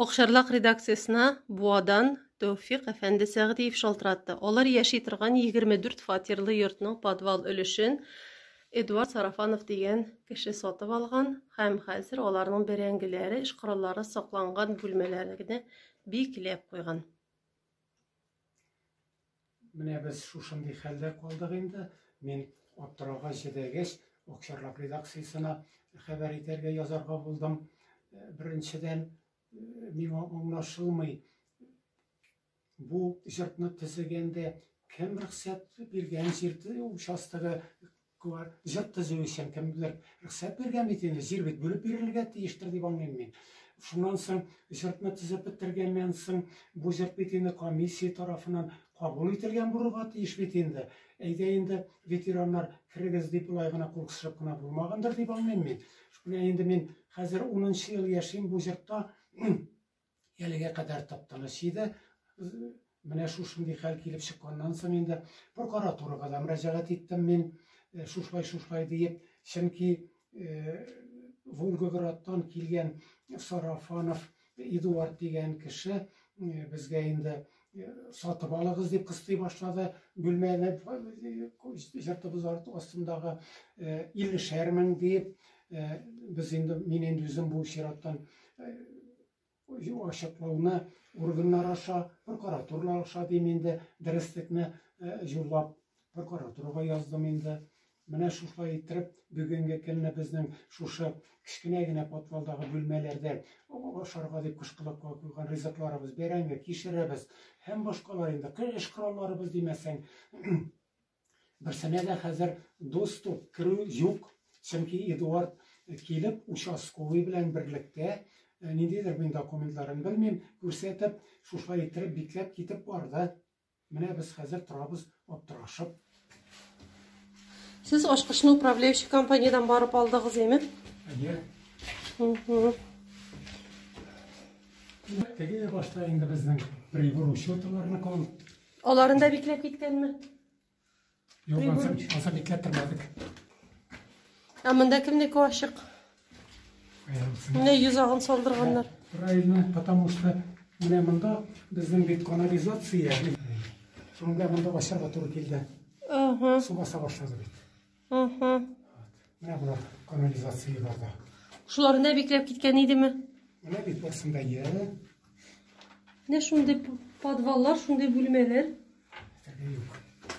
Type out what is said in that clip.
Акчарлак редакциясенә Буадан Тәүфик әфәнде Сәгъдиев шалтыратты. Алар яши торган 24 фатирлы йортның подвал өлешен Эдуард Сарафанов дигән кеше сатып алган һәм хәзер аларның бәрәңгеләре, эш кораллары сакланган бүлмәләрне бикләп куйган. Менә без шушындый хәлдә калдык инде. Мин аптырауга җидәгәч, Акчарлак редакциясенә хәбәр итәргә язарга булдым. Э, беренчедән, э, миңа аңлашылмый, бу җыртны төзегәндә кем рөхсәт биргән җирде участогы Куар, җыр төзү өчен кемдер рөхсәт биргән бит инде, җир бит бүлеп бирелергә тиештер дип аңлыйм мин. Шуннан соң җырны төзеп бетергәннән соң, бу җыр бит инде комиссия тарафыннан кабул ителгән булырга тиеш бит инде. Әйдә инде, ветераннар, керегез дип болай гына кул кысышып кына булмагандыр дип аңлыйм мин. Менә инде мин хәзер унынчы ел яшим бу җортта. Әлегә кадәр тапталыш иде. Менә шушындый хәл килеп чыкканнан соң инде прокуратурага да мөрәҗәгать иттем мин э, шушылай шушылай диеп, чөнки э, Волгоградтан килгән Сарафанов Эдуард дигән кеше э, безгә инде сатып алыгыз дип кыстый башлады. Бүлмәне җыртыбыз астындагы 50 шәр мең дип, без инде мин инде үзем бу чираттан ачыклауны органнар аша, прокуратура аша дим инде, дөреслекне җурлап прокуратурага яздым инде. Менә шушылай иттереп, бүгенге көнне безнең шушы кечкенә генә подвалдагы бүлмәләрдә ашарга дип кышкылыкка куйган ризыкларыбыз, бәрәңге, кишеребез һәм башкалар инде, кыр эш коралларыбыз димәсәң, берсенә дә хәзер доступ, керү юк. Чөнки Эдуард килеп, участковый белән берлектә, ниндидер мин документларын белмим, күрсәтеп, шушылай иттереп бикләп китеп барды. Менә без хәзер торабыз аптырашып. Сез ашкычны управляющий компаниядән барып алдыгыз име? Әйе. Теге башта инде безнең прибор учетыларны кон. Аларында бикләп киткәнме? Юк, алса, алса бикләп тормадык. Ә монда кемнеке ачык? Менә йозагын салдырганнар. Правильно, потому что менә монда безнең бит канализация. Шунда монда ачарга туры килде. Ага. Су баса башлады бит. Ага. Менә булар канализация барда. Шуларны бикләп киткән идеме? Менә бит барсында яра. Менә шундый подваллар, шундый бүлмәләр. Юк.